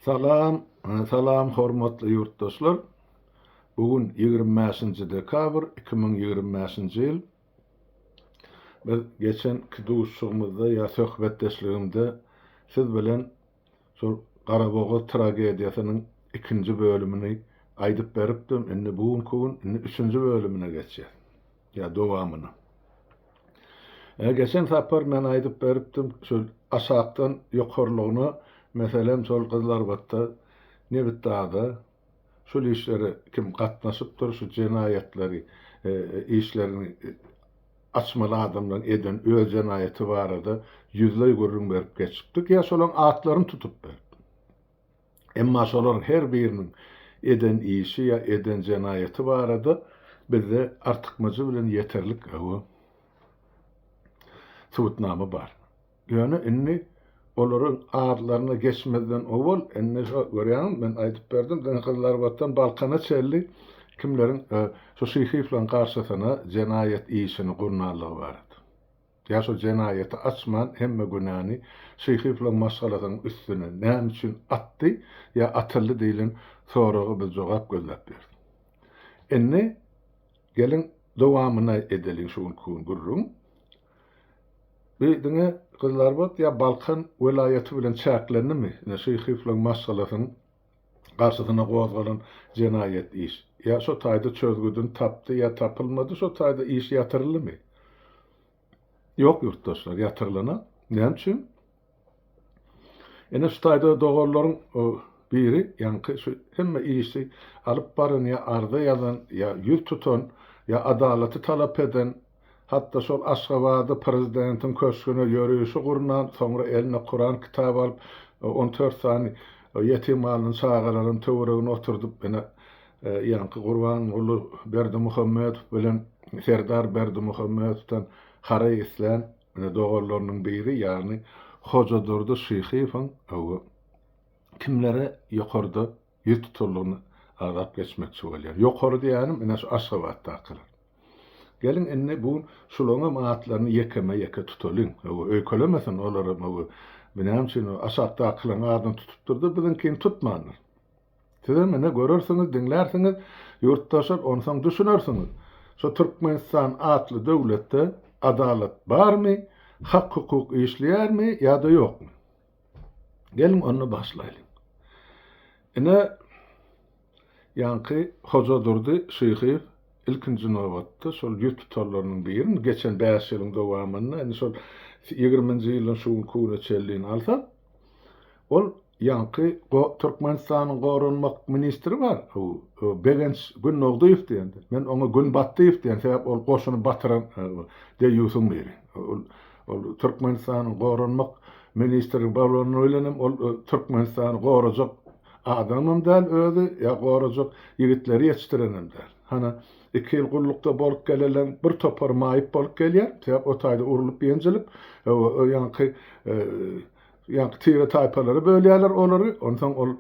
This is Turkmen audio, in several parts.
Salam, salam hormatly ýurtdaşlar. Bu gün ýigrimi bäşinji dekabr iki müň ýigrimi bäşinji ýyl. Biz geçenki duşuşygymyzda ýa söhbetdeşligimde siz bilen şol Garabogaz tragediýasynyň ikinji bölümini aýdyp beripdim. Indi bu günki gün indi üçünji bölümine geçýäs. Ýa dowamyny. Ä geçen sapar men aýdyp beripdim şol aşakdan ýokarlygyna meselem şol gyzlarbatda nebitdagda şol işlere kim gatnaşypdyr şu jenaýatlary işlerini açmaly adamlaryň eden öz jenaýaty barada ýüzleý gürrüň berip geçipdik ýa şolaň atlaryny tutup beripdim. Emma şolaryň her biriniň eden işi ýa eden jenaýaty barada bizde artykmajy bilen ýeterlik hawa subutnama bar. Ýöne indi olaryň adlaryna geçmezden owal indi şo görýäňizmi men aýdyp berdim diňe Gyzylarbatdan Balkana çenli kimleriň şo Şyhyýewleriň garşysyna jenaýat işini gurnanlygy barada. Ýa şo jenaýaty açman hemme günäni Şyhyýewlaň maşgalasynyň üstüne näme üçin atdy ýa atyldy diýlen soraga biz jogap gözläp ýörüs. Indi geliň dowamyny edeliň şu günki gürrüň. Bu diňe Gyzlarbat ýa Balkan welaýaty bilen çäklendimi? Ine Şyhyýewlaň maşgalasynyň garşysyna gozgalan jenaýat iş ýa şo taýda çözgüdini tapdy ýa tapylmady şo taýda iş ýatyryldymy? Ýok ýurtdaşlar ýatyrylanok. Näme üçin? Ene şu taýda doganlaryň biri ýaňky şu hemme işi alyp baran ýa arza ýazan ýa ýüz tutan ýa adalaty talap eden Hatda şol Aşgabada prezidentiň köşgüne ýörüşi gurnan, soňra eline Kuran kitaby alyp, on dört sany ýetim galan çagalaryny töweregine oturdyp, ine, ýaňky Gurbanguly Berdimuhamedow bilen Serdar Berdimuhamedowdan haraý islän doganlarynyň biri, ýagny Hojadurdy Şyhyýewiň kimlere ýokarda Ýüz tuturlygyny agzap geçmekçi bolýan. Ýokary diýýänim, ine şu Aşgabatdakylar. Geliň indi bu gün şularyňam atlaryny ýekeme-ýeke tutalyň. Hawa, öýkelemesin olaram, hawa, bu näme üçin o aşakdakylaryň adyny tutupdyr-da, biziňkini tutmandyr. Sizem ine görersiňiz, diňlärsiňiz, ýurtdaşlar, onsoň düşünersiňiz, şu Türkmenistan atly döwletde adalat barmy, hak-hukuk işleýärmi ýa-da ýokmy? Geliň onda başlaýlyň. Ine, ýaňky Hoja Durdy Şyhyýew ilkinji nobatda şol ýüz tutarlarynyň birini geçen bäş ýylyň dowamynda, indi şol ýigriminji ýylyň şu günki güne çenlin alsak, ol ýaňky Türkmenistanyň goranmak ministri bar, Begenç Günnogdyýew diýen, men oňa Günbatdyýew diýen, sebäp ol goşuny batyran deýýusyň biri. Ol Türkmenistanyň Goranmak ministri bolany bilenem ol Türkmenistany gorajak adamam däl özi, ýa gorajak ýigitleri ýetişdirenem däl. Hany, iki ýyl gullukda bolup geleleň bir topary maýyp bolup gelýär, sebäp o taýda urlup-ýenjilip, o ýaňky ýaňky tire-taýpalara bölýärler olary, onsoň ol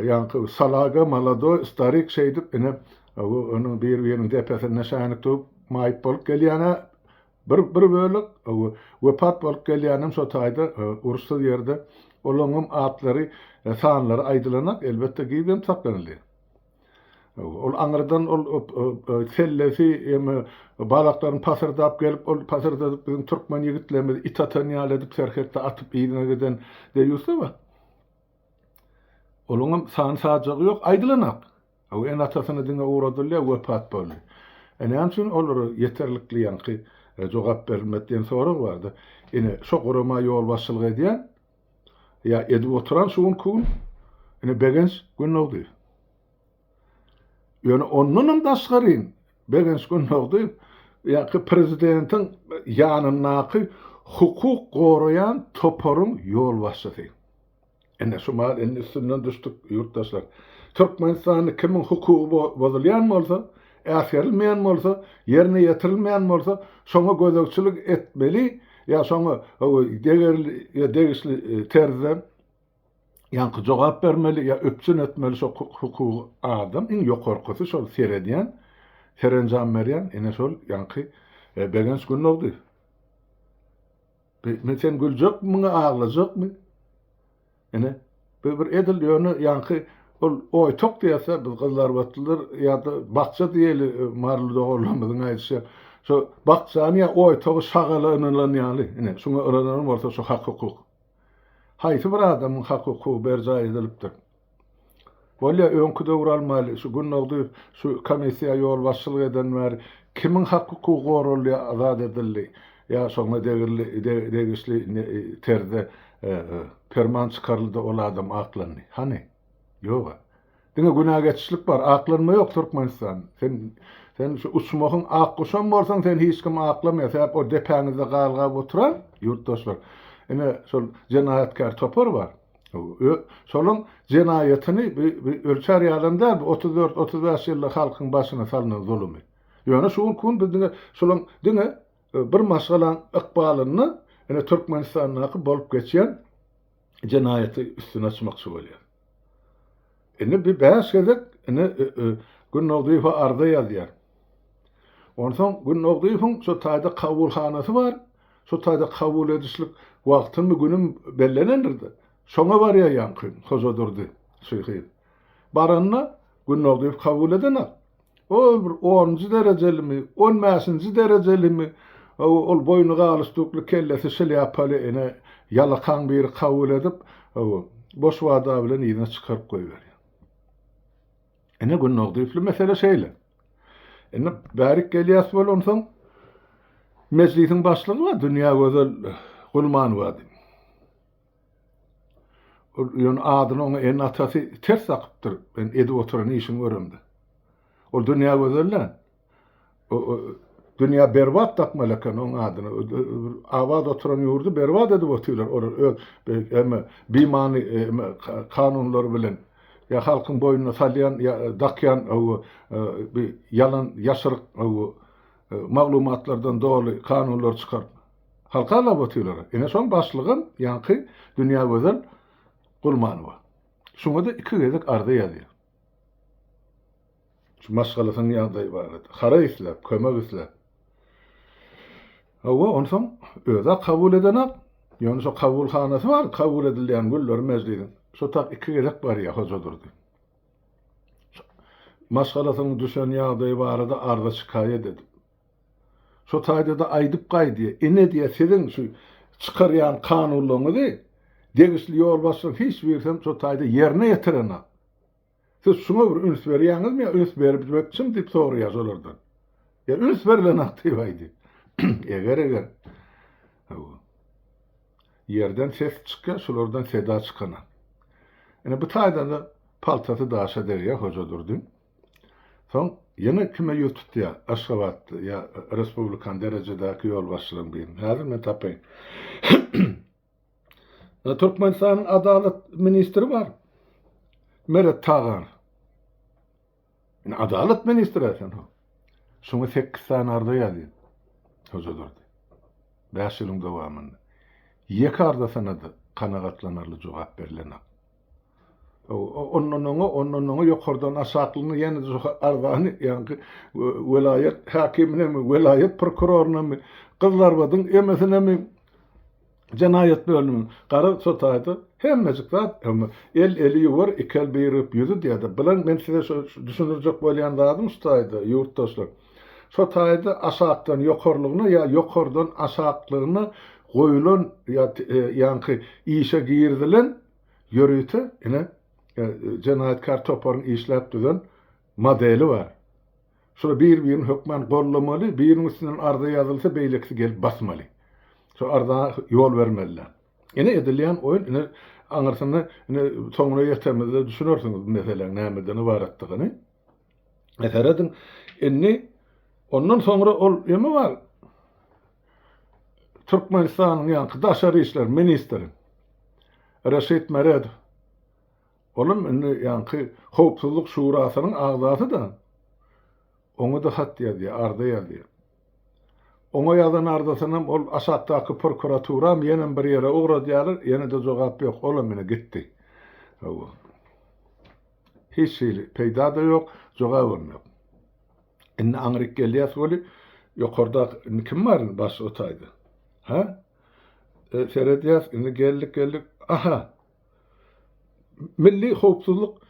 ýaňky salaga, molodoý, starik şeýdip, ine, onuň bir-biriniň depesinde şänik durup maýyp bolup gelýän-ä, Bir bir bölek wepat bolup gelýänem şo taýda uruşsyz ýerde olaňňam atlary sanlary aýdylanak elbetde gizem saklanyldy. Ol aňyrdan ol sellesi ýa-me balaklaryny pasyrdap gelip ol pasyrdadyp biziň türkmen ýigitlerimizi it atan ýaly edip serhetde atyp yzyna giden deýýusda bar. Olaňňam sany sajagy ýok aýdylanak. Hawa, indi atasyna diňe ugradylýar, wepat boldy. E, näme üçin olara ýeterlikli ýaňky jogap berilmedi diýen sorag bar-da. Ine, şo gurama ýolbaşçylyk edýän ýa edip oturan şu günki gün ine Begenç Gündogdyýew. Ýöne ondanam daşgaryn Begenç Gündogdyýew ýaňky prezidentiň ýanyndaky hukuk goraýan toparyň ýolbaşçysy. Ine şu mal indi üstünden düşdük ýurtdaşlar. Türkmenistanda kimiň hukugy bozulýan bolsa, äsgerilmeýän bolsa, ýerine ýetirilmeýän bolsa, şoňa gözegçilik etmeli ýa şoňa degerli ýa degişli e, terzde ýaňky jogap bermeli ýa üpjün etmeli şo hukugy adam iň ýokarkysy şol seredýän, serenjam berýän ine şol ýaňky e, Begenç Gündogdy. Ine sen güljekmiňi aglajakmy? Ine bu bir edil ýöne ýaňky ol oýtak diýerse biz gyzlarbatlylar ýa-da bakja diýeli e, maryly doganlarymyzyň aýdyşy şu bakjany ýa oýtagy şagala ynanylan ýaly. Ine şuňa ynananam bolsa şu hak hukuk. Haýsy bir adamyň hak hukugy berjaý edilipdir? Bolýa öňki döwür almaýly şu gündogdy şu komissiýa ýolbaşçylyk eden bäri kimiň hak hukugy goraldy azat edildi ýa şoňa degirli degişli terzde perman çykaryldy ol adam aklandy hany ýoga diňe günä geçişlik bar aklanma ýok türkmenistan sen sen şu uçmahyň ak guşam bolsaň sen hiç kim aklamaýa sebäp o depäňizde galgap oturan ýurtdaşlar ine şol jenaýatkär topar bar. Şolaň jenaýatyny ölçär ýalam däl bu otuz dört, otuz bäş ýylda halkyň başyna salnan zulumy. Ýöne şu günki gün biz diňe şolaň diňe bir maşgalaň ykbalynda ine Türkmenistandaky bolup geçýän jenaýaty üstüni açmakçy bolýar. Indi bir bäş gezek indi Günnogdyýewe arza ýazýar. Onsoň Günnogdyýewiň şo taýda kabulhanasy bar, şo taýda kabul edişlik wagtymy günüm bellenendir-de, şoňa barýar ýaňky Hoja Durdy şyhy. Baranda Günnogdyýew kabul edenak. Ol bir onunjy derejelimi, on bäşinji derejelimi, ol boýny galyşdukly, kellesi şlýapaly ene ýalakaň biri kabul edip, boş wada bilen yzyna çykaryp goýberýär. Ine, Günnagdyýewli mesele şeýle. Indi bärik gelýäs bol, onsoň Mejlisiň başlygy bar, Dünýägözel Gulmanowady. Ol ýöne adyny oňa ene-atasy ters dakypdyr, men edip oturan işimi göremde. Ol dünýä gözel-dä. Dünýä berbat dakmaly eken oň adyny. Abat oturan ýurdy berbat edip otyrlar olar öz eme bimany eme kanunlary bilen. Ýa halkyň boýnuna salýan ýa dakýan owo bi ýalan ýaşryk owo maglumatlardan doly kanunlar çykaryp. Halka logotylara ene şol başlygym ýaňky Dünýägözel Gulmanowa. Şuňada iki gezek arza ýazýar. Şu maşgalasynyň ýagdaýy barada. Hara isläp, kömek isläp. Hawa, onsoň özä kabul edenak. Ýöne şo kabulhanasy bar, kabul edilýän günleri mejlisiň. Şo tak iki gezek barýar Hojadurdy. Maşgalasynyň düşen ýagdaýy barada arza-şikaýat edip. Şo taýda-da aýdyp gaýdýa, ine diýýä, siziň şu çykarýan kanunlaryňyzy degişli ýolbaşçylaryň hiç birisi hem şo taýda ýerine ýetirenok. Siz şuňa bir üns berýäňizmi ýa üns bermekçimi diýip soraýas olardan. Ýa üns berlenok diýip aýdy. Eger eger Hawa. Ýerden ses çykýa, şulardan seda çykanok. Ine bu taýda-da paltasy daşa degýä Hoja Durdyň. Soň ýene kime ýüz tutýa? Aşgabatda ýa respublikan derejedäki ýolbaşçylaryň birine. Häzir men tapaýyn. Ýa Türkmenistanyň adalat ministri bar. Meret Tagan. Ýa adalat ministri eken o. Şoňa 8 sany arza ýazýan. Hoja durdy. 5 ýylyň dowamynda. Ýeke arzasyna-da kanagatlanarly jogap berilenok. Ondan oňa, ondan oňa ýokardan aşaklygyna ýene-de şu arzany ýaňky welaýat häkiminemi, welaýat prokurorunamy, Gyzlarbadyň emesinemi, jenaýat bölümini, gara sotaýda hemmejik zat, emma el eli ýuwar, iki el bir öp ýüzi diýýärdi. Bilen men size şu düşündirjek bolýan zadym şu taýda, ýurtdaşlar. Şo taýda aşakdan ýokarlygyna ýa ýokardan aşaklygyna goýulan ýa ýaňky işe girizilen ýörite ine jenaýatkär toparyň işläp düzen modeli bar. Şular bir-birini hökman gollamaly, biriniň üstünden arza ýazylsa beýlekisi gelip basmaly. Şo arza ýol bermeliler. Ine edilýän oýun ine aňyrsyny ine soňuna ýetemizde düşünersiňiz bu meseläň nämeden ybaratdygyny. Serediň, indi ondan soňra ol ýene bar Türkmenistanyň ýaňky daşary işler ministri Reşit Meredow. Olam indi ýaňky Howpsuzlyk şurasynyň agzasy-da. Oňa-da hat ýazýar, arza ýazýar. Oňa ýazan arzasynam ol aşakdaky prokuraturam ýenem bir ýere ugradýarlar, ýene-de jogap ýok. Olam indi gitdi. Hawa. Hiç hili peýda-da ýok, jogabam ýok. Indi aňryk gelýäs weli, ýokarda indi kim bar indi baş o taýda? Ha? E, seredýäs, indi geldik, geldik. Aha! Milli howpsuzlyk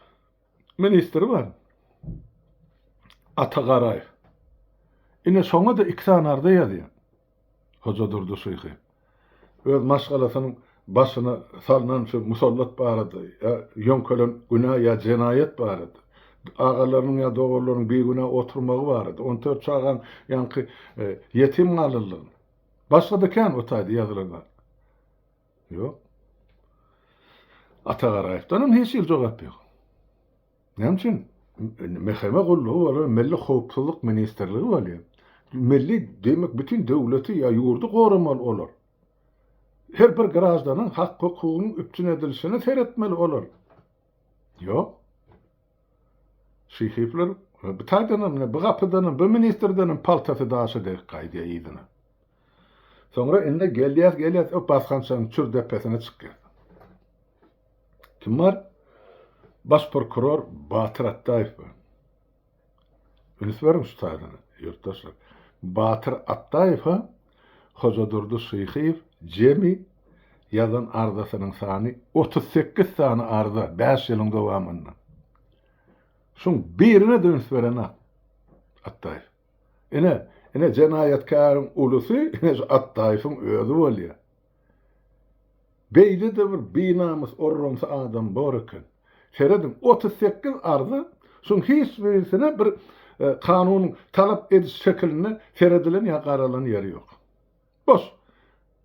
ministri bar. Ata Garaýew. Ine şoňa-da iki sany arza ýazýan. Hojadurdy şyhy öz maşgalasynyň başyna salnan şu musallat barada ýa ýöňkelen günä ýa jenaýat barada, agalarynyň ýa doganlarynyň bigünä oturmagy barada, on dört çagaň ýaňky ýetim galanlygyny, başga-da kän o taýda ýazylan zat ýok. Ata Garaýewden hem hiç hili jogap ýok. Näme üçin MHM gullugy bolar, Milli howpsuzlyk ministrligi bolýar. Milli demek bütin döwleti ýa ýurdy goramaly olar. Her bir graždanyň hak hukugynyň üpjün edilişine seretmeli olar. Ýok. Şyhypler bu taýdanam mine bu gapydanam bu ministrdenem paltasy daşa degip gaýdýar yzyna. Soňra indi gelýäs gelýäs o basgançagyň çür depesine çykýas. Kim bar? Baş prokuror Batyr Atdaýew bar. Üns beriň şu taýdana, ýurtdaşlar. Batyr Atdaýewa Hojadurdy Şyhyýew jemi ýazan arzasynyň sany otuz sekiz sany arza bäş ýylyň dowamynda. Şuň birine-de üns berenok Atdaýew. Ine, ine jenaýatkäriň ulusy ine şu Atdaýewiň özi bolýar. Beýlede bir binamys orrumsy adam bor eken. Serediň, otuz sekiz arza, şuň hiç birisine bir kanunyň talap ediş şekilinde seredilen ýa garalan ýeri ýok. Boş.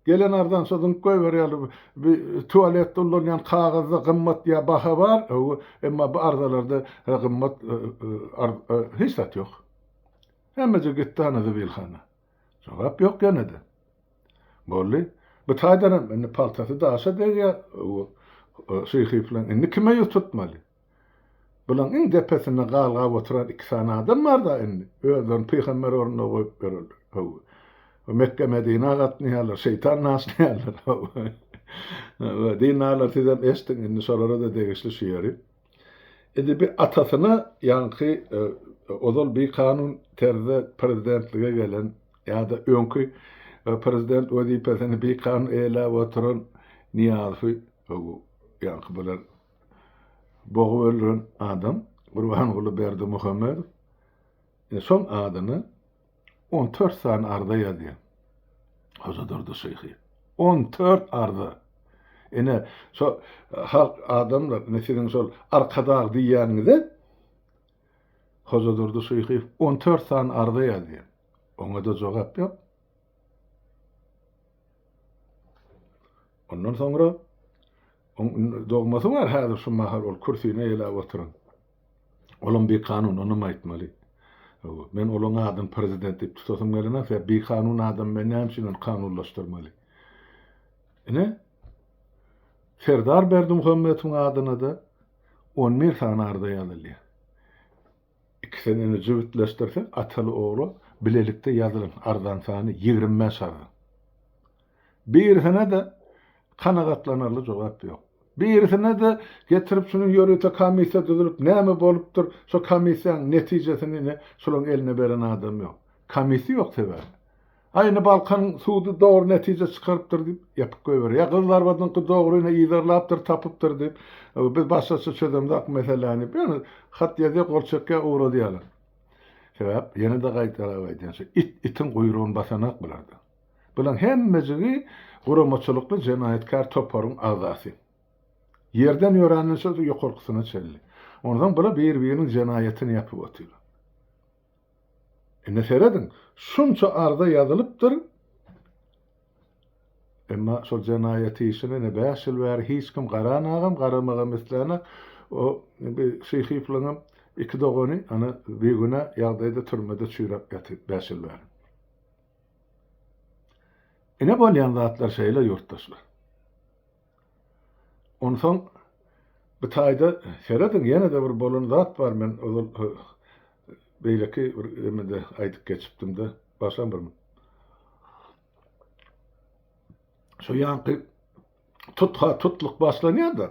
Gelen arzany şo zyňyp goýberýärler. Bu tualetde ulanýan kagyzda gymmat ýa baha bar, öwi, emma bu arzalarda gymmat hiç zat ýok. Hemmeje gitdi ana zibilhana. Jogap ýok ýene-de. Boldy. Bu taýdanam indi paltasy daşa degýär. Şyhyplan indi kime ýüz tutmaly? Bulaň iň depesinde galgap oturan iki sany adam bar-da indi. Özlerini pygamber ornunda goýup ýörerler. Hawa. Mekge-Medinä gatnaýarlar, şeýtan naşlaýarlar. Hawa. Dindar sizem eşdiň indi şolara-da degişli şu ýeri. Edebi atasyna ýaňky ozal bikanun terzde prezidentlige gelen ýa-da öňki prezident wezipesini bikanun eýeläp oturan Nyýazowy ýaňky bular bogup öldüren adam Gurbanguly Berdimuhamedow soň adyny On tört sany arza ýazýan. Hojadurdy şyhy. On tört arza! Ine, şo halk, adamlar, ine, siziň şol arkadag diýýäniňize Hojadurdy şyhy on tört sany arza ýazýan. Oňa-da jogap ýok. Ondan soňra oň dogmasy bar häzir şu mahal ol kürsini eýläp oturan. Olam bikanun, onam aýtmaly. Hawa, men olaň adyny prezident diýip tutasym gelenok, sebäbi bikanun adamy men näme üçin ony kanunlaşdyrmaly? Ine, Serdar Berdimuhamedowyň adyna-da on bir sany arza ýazylýar. Ikisini jübütleşdirsek, ataly-ogla bilelikde ýazylan arzanyň sany ýigrimi bäş arza. Birisine-de kanagatlanarly jogap ýok. Birisine-de getirip şunuň ýörite komissiýa düzülip, näme bolupdyr, şo komissiýanyň netijesini-ni şolaryň eline beren adam ýok. Komissiýa ýok sebäbi. A indi Balkanyň sudy dogry netije çykarypdyr diýip, ýapyp goýberýär. Ýa Gyzlarbadyňky dogryny yzarlapdyr, tapypdyr diýip, biz başgaça çözemzok meseläni. Ýöne hat ýazýar, gol çekýär, ugradýarlar. Sebäp, ýene-de gaýtalap aýdýan, şu it itiň guýrugyny basanak bularda. Bulan hemmejigi guramaçylykly jenaýatkär toparyň agzasy. Ýerden ýöränden şo ýokarkysyna çenli. Onsoň bular bir-biriniň jenaýatyny ýapyp otyrlar. Indi serediň, şunça arza ýazylypdyr, emma şol jenaýat işine ine bäş ýyl bäri hiç kim garanagam, garamagam islänak, o Şyhyýewlaryňam iki dogany ana bigünä ýagdaýda türmede çüýräp ýatyr bäş ýyl bäri. Ine bolýan zatlar şeýle ýurtdaşlar. Onsoň bu taýda serediň ýene-de bir bolan zat bar men ozal beýleki bir emede aýdyp geçipdim-de başam bir şu ýanky tutha tutluk başlanýar-da.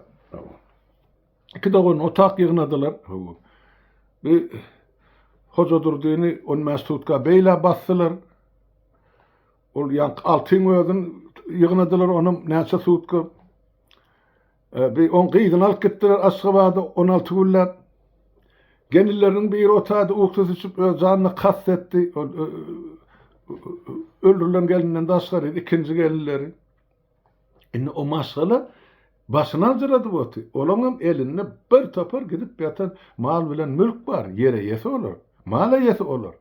Iki dogan otag ýygnadylar. Bi Hojadurdyny on bäş sutka beýle basdylar. Ol ýaňky Altyň özün ýygnadylar onam näçe sutka. E, bi on gyzyny alyp gitdiler Aşgabada on alty günläp. Gelinleriniň biri otady, uksy süçüp öz janyna kast etdi. Ol öldürilen gelinden daşgary ikinji gelinleri. Indi o maşgala başyny aljyradyp oty. Olaňam elinde bir topar gidip ýatan mal bilen mülk bar. Ýer eýesi olar. Mal eýesi olar.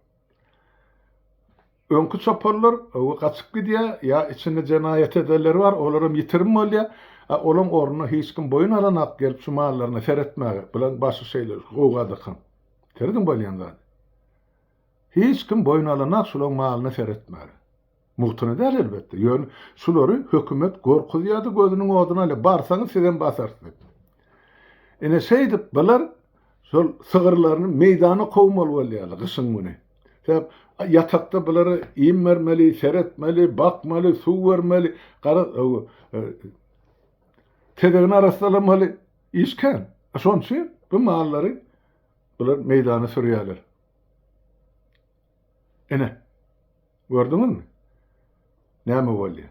Öňki çopanlar we gaçyp gidýär, ýa içinde jenaýat edenleri bar, olaram ýitirim bolýar. A olaň ornuna hiç kim boýun alanok gelip şu mallaryna seretmäge. Bulaň başy şeýle gowgadakan. Serediň bolýan zady. Hiç kim boýun alanok şulaň malyna seretmäge. Mugtuna däl elbetde, ýöne şulary hökümet gorkuzýardy gözüniň oduna ýa barsaňyz sizem basarys diýip. Ine şeýdip bular şol sygyrlaryny meýdana kowmaly bolýarlar gyşyň güni. Sebäp ýatakda bulara iým bermeli, seretmeli, bakmaly, suw bermeli, gara tezegini arassalamaly iş kän. Şonuň üçin bu mallary bular meýdana sürýärler. Ine, gördüňizmi, näme bolýar?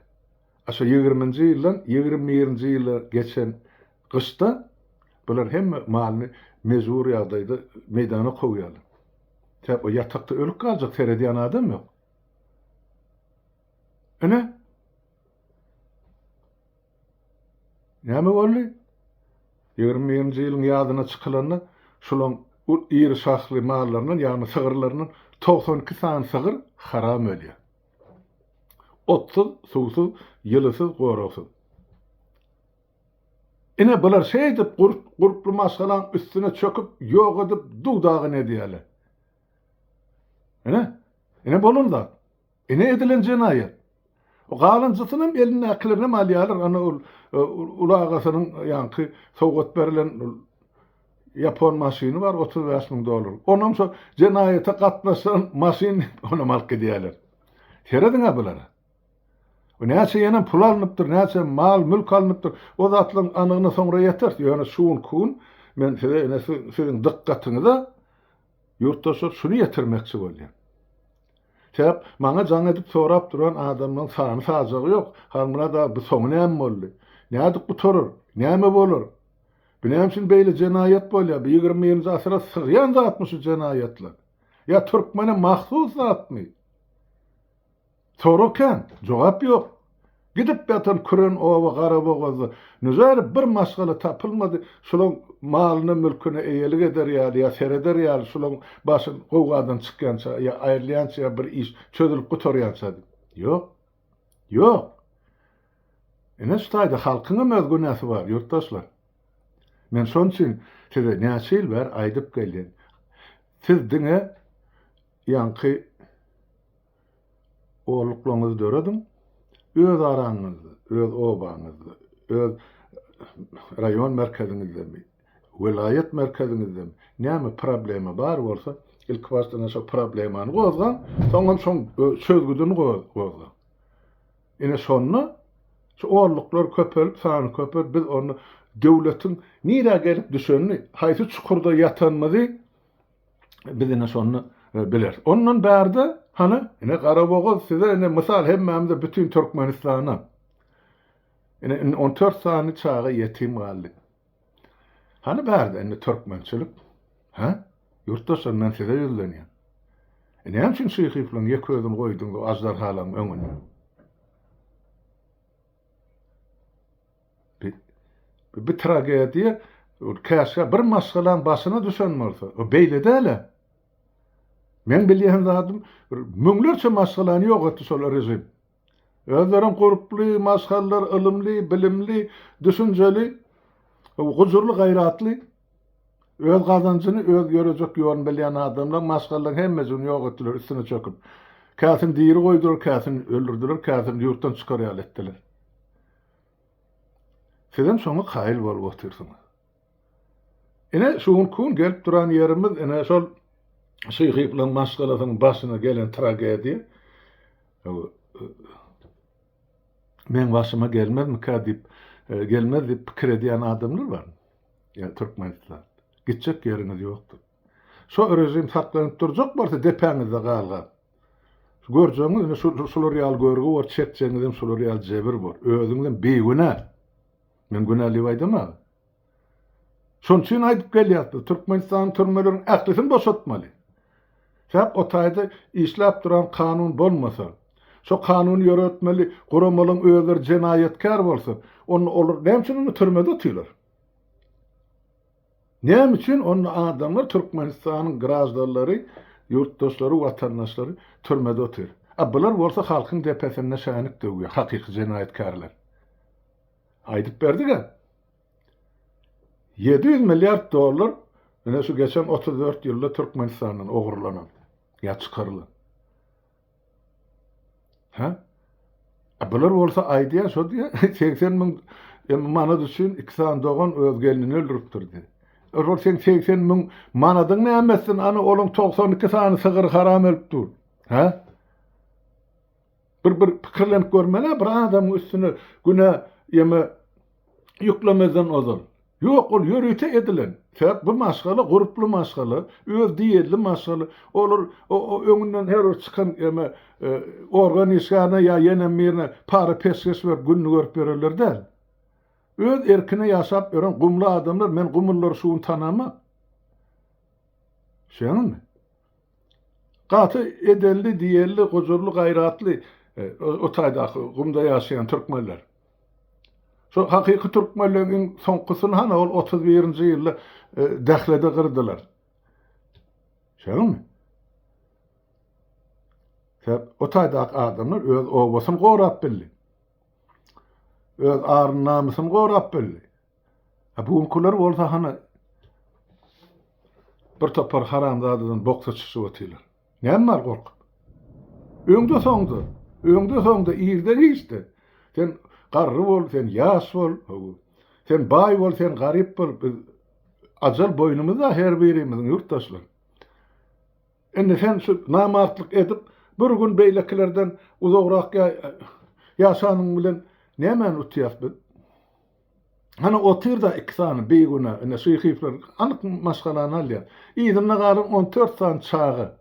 A şo ýigriminji ýyldan ýigrimi birinji ýyla geçen gyşda bular hemme malyny mejbury ýagdaýda meýdana kowýarlar. Sebäp o ýatakda ölüp galjak, seredýän adam ýok. Ine. Näme boldy? Ýigrimi birinji ýylyň ýazyna çykylanda şolaň iri şahly mallaryndan, ýagny sygyrlaryndan togsan iki sany sygyr haram ölýär. Otsuz, suwsuz, ýylysyz, goragsyz. Ine, bular şeýdip gurply maşgalaň üstüne çöküp, ýok edip, duw-dagyn edýärler. Ine, ine bolan zat. Ine edilen jenaýat. Galanjysynam elindäkilerinem alýarlar, ana ol uly agasynyň ýaňky sowgat berlen ýapon maşyny bar otuz bäş müň dollarlyk. Onam şo jenaýata gatnaşan maşyn diýip, onam alyp gidýärler. Serediň-ä bulara. Bu näçe ýene pul alnypdyr, näçe mal-mülk alnypdyr, o zatlaryň anygyna soňra ýeteris. Ýöne şu gün, ku gün men size ine siziň dykgatyňyza Ýurtdaşlar şuny ýetirmekçi bolýar. Sebäp maňa jaň edip sorap duran adamlaň sany sajagy ýok. Halmyrat aga bu soňy näme boldy? Nädip gutarar? Näme bolar? Bu näme üçin beýle jenaýat bolýar? Bu ýigrimi birinji asyra sygýan zatmy şu jenaýatlar? Ýa türkmene mahsus zatmy? Sorag kän, jogap ýok. Gidip ýatan küren oba garabogazda nüzäri bir maşgala tapylmady, şulaň malyna mülküne eýelik eder ýaly ýa sereder ýaly şulaň başy gowgadan çykýança ýa aýrylýança ýa bir iş çözülip gutarýança diýip. Ýok. Ýok. Ine şu taýda halkyňam öz günäsi bar ýurtdaşlar. Men şoň üçin size näçe ýyl bäri aýdyp gelýän. Siz diňe ýaňky Ogullaryňyzy dörediň, öz araňyzda, öz obaňyzda, öz raýon merkeziňizdemi, welaýat merkeziňizdemi näme problema bar bolsa, ilkibaşdan şo problemany gozgaň, soňam şoň çözgüdini gozgaň. Ine şonda şu ogullyklar köpelip, sany köpelip, biz onda döwletiň nirä gelip düşenini, haýsy çukurda ýatanymyzy, Biz ine şony bileris. Ondan bärde, hany, ine Garabogaz size ine mysal hemmämize bütin Türkmenistana. Ine indi on dört sany çaga ýetim galdy. Hany bärde indi türkmençilik? Hä? Ýurtdaşlar men size ýüzlenýän. E näme üçin şyhyflaň ýek özüni goýduň bu ajdarhalaň öňünde? Bu tragediýa käşgä bir maşgalaň başyna düşen bolsa. O beýle däl-ä. Meň bilýän zadym müňlerçe maşgalany ýok etdi şol režim. Özlerem gurply, maşgallar ylymly, bilimli, düşünjeli, gujurly, gaýratly, öz gazanjyny öz ýörejek ýoluny bilýän adamlar maşgalalaryň hemmejigini ýok etdiler üstüne çöküp. Käsini diri goýdular, käsini öldürdiler, käsini ýurtdan çykar ýaly etdiler. Sizem şoňa kaýyl bolup otyrsyňyz. Ine, şu gün kun gelip duran ýerimiz, ine, şol Şyhyýewiň maşgalasynyň başyna gelen tragediýa. Meň başyma gelmezmikä diýip, gelmez diýip pikir edýän adamlar bar. Ýa Türkmenistan. Gitjek ýeriňiz ýokdur. Şo režim saklanyp durjak bolsa depäňizde galga. Görjegiňiz indi şular ýaly görgi bor, çekjegiňizem şular ýaly jebir bor. Özüňizem bigünä. Men günä diýip aýdamagyn. Şonuň üçin aýdyp gelýäs biz Türkmenistanyň türmeleriniň ählisini boşatmaly. Sebäp o taýda işläp duran kanun bolmasa, şo kanuny ýöretmeli guramalaryň özleri jenaýatkär bolsa, onda olar näme üçin onda türmede otyrlar? Näme üçin onda adamlar Türkmenistanyň graždanlary, ýurtdaşlary, watandaşlary türmede otyr? A bular bolsa halkyň depesinde şänik döwýär, hakyky jenaýatkärler. Aýdyp berdiga. Ýedi ýüz milliard dollar ine şu geçen otuz dört ýylda Türkmenistandan ogurlanan ýa çykarylan. Hä? A bular bolsa aýdýar şo diýýär, segsen müň manat üçin iki sany dogan öz gelnini öldüripdir diýýär. E şol seň segsen müň manadyň näme etsin, ana olaň togsan iki sany sygyry haram ölüp dur. Hä? Bir bir pikirlenip görmeli-ä bir adamyň üstüne günä ýeme ýüklemezden ozal, Ýok, ol ýörite edilen. Sebäp bu maşgala gurply maşgala, öz diýeli maşgala. Olar öňünden her bir çykan eme organ işgärine ýa ýene birine para peşgeş berip gününi görüp ýörerler däl. Öz erkine ýaşap ýören gumly adamlar, men gumulylary şu gün tanamok. Şeňňimi? Gaty edenli diýenli gujurly gaýratly o taýdaky gumda ýaşaýan türkmenler. Şo hakyky türkmenleň iň soňkusyny hany ol otuz birinji ýylda Dählede gyrdylar. Şoňmy? Sebäp o taýdaky adamlar öz obasyny gorap bildi. Öz aryny namysyny gorap bildi. A bu günkiler bolsa hany bir topar haramzadadan boksa çyşyp otyrlar. Näme bar gorkup? Öňde soňda, öňde soňda irde giçde. Sen garry bol, sen ýaş bol, hawa. Sen baý bol, sen garyp bol, biz ajal boýnumyzda her birimiziň ýurtdaşlar. Indi sen şu namartlyk edip, bir gün beýlekilerden uzagrak ýaşanyň bilen nämäni utýas biz? Hany otyr-da iki sany bigünä, ine şu hifler anyk maşgalany alýar. Yzynda galan on dört sany çaga.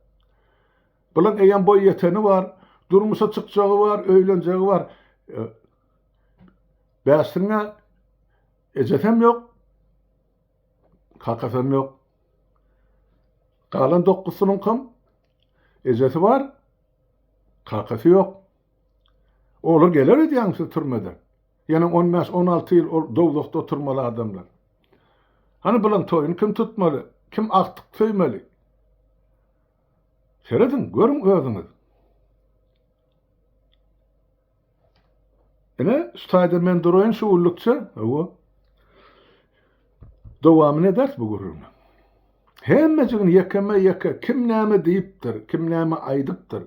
Bulaň eýýäm boý ýeteni bar, durmuşa çykjagy bar, öýlenjegi bar. Bäşligiň-ä ejesem ýok, kakasam ýok. Galan dokuzsynyňkam ejesi bar, kakasy ýok. Olar geler öýdýäňmi siz türmeden? Ýene on bäş, on alty ýyl ol dowzahda oturmaly adamlar. Hany bulaň toýuny kim tutmaly, kim agtyk söýmeli? Serediň, görüň özüňiz. Ine, şu taýda men duraýyn şu gullukça. Hawa. Dowamyny ederis bu gürrüňi. Hemmejigini ýekeme-ýeke kim näme diýipdir, kim näme aýdypdyr.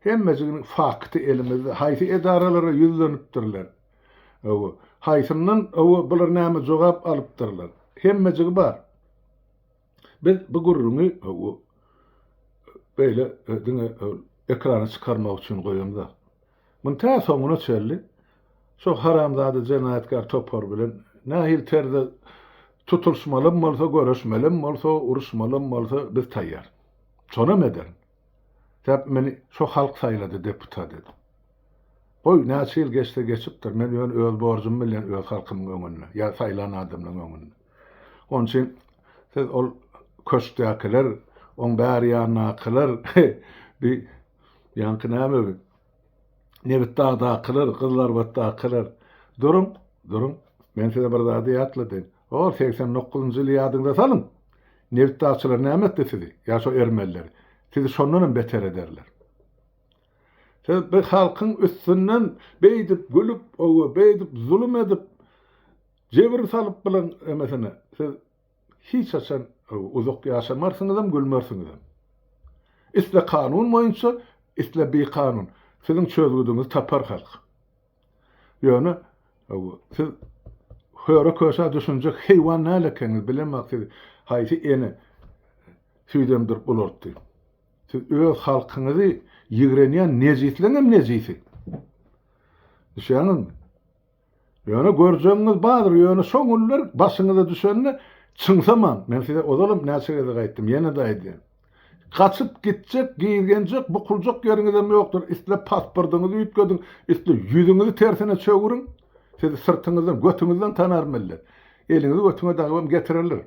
Hemmejiginiň fakty elimizde. Haýsy edaralara ýüzlenipdirler? Hawa, haýsyndan, hawa, bular näme jogap alypdyrlar? Hemmejigi bar. Biz bu gürrüňi, hawa, beýle diňe ekrana çykarmak üçin goýamzok. Muny tä soňuna çenli şo haramzada jenaýatkär topar bilen nähili terzde tutulşmalym bolsa, görüşmelim bolsa, uruşmalym bolsa biz taýýar. Şonam ederin. Sebäp meni şo halk saýlady deputat edip. Goý, näçe ýyl geçse geçipdir, men ýöne öz borjum bilýän öz halkymyň öňünde, ýa saýlan adamlaryň öňünde. Onuň üçin siz ol köşkdäkiler, oň bäri ýandakylar, he, bi, ýaňky näme bi, Nebitdagdakylar, Gyzylarbatdakylar, duruň, duruň, men size bir zady ýatladaýyn, Hor segsen dokuzynjy ýyly ýadyňyza salyň! Nebit dagçylary näme etdi sizi? Ýa şo ermeniler? Sizi şondan hem beter ederler. Siz bu halkyň üstünden beýdip gülüp, owe, beýdip zulum edip, jebir salyp bilen emesene, siz hiç haçan uzak ýaşamarsyňyz hem, gülmersiňiz hem. Isle kanun boýunça, isle bikanun, siziň çözgüdiňizi tapar halk. Ýöne siz höre köşe düşünjek heýwan däl ekeniňiz, bilemok sizi haýsy ene süýt emdirip ulaltdy. Siz öz halkyňyzy ýigrenýän nejisleň hem nejisi. Düşýäňizmi? Ýöne görjegiňiz bardyr, ýöne şo günler başyňyza düşende çyňsaman, men size ozalam näçe gezek aýtdym, ýene-de aýdýan, Gaçyp gitjek, gizgenjek, bukuljak ýeriňizem ýokdur. Isle pasportyňyzy üýtgediň, isle ýüzüňizi tersine çöwüriň, sizi syrtyňyzdan, götüňizden tanar millet. Eliňizi götüňe dagybam getirerler,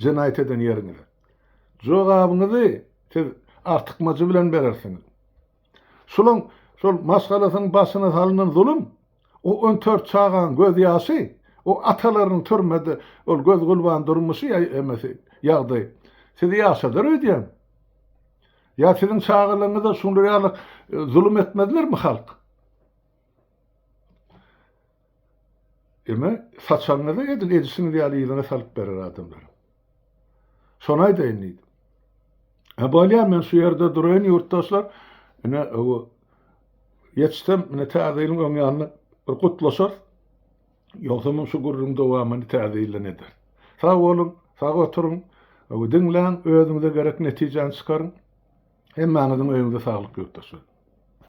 jenaýat eden ýeriňize. Jogabyňyzy siz artykmajy bilen berersiňiz. Şulaň şol maşgalasynyň başyna salynan zulum, o on tört çagaň göz ýaşy, o atalarynyň türmede ol göz gurban durmuşy ýa emesi ýagdaý sizi ýaşadar öýdýän. Ýa siziň çagalaryňyza şular ýaly zulum etmezlermi halk? Emma saçagyňyzy edil edişiňiz ýaly yzyňa salyp berer adamlar. Şony aýdaýyn diýdim. Ha bolýar men şu ýerde duraýyn ýurtdaşlar. Ine o ýetişsem ine täze ýylyň öň ýanyna bir gutlaşar. Ýogsa men şu gürrüň dowamyny täze ýyldan eder. Sag boluň, sag oturyň. O diňläň, özüňize gerek netijäni çykaryň. Hemmäňiziň öýüňize saglyk ýurtdaşlar.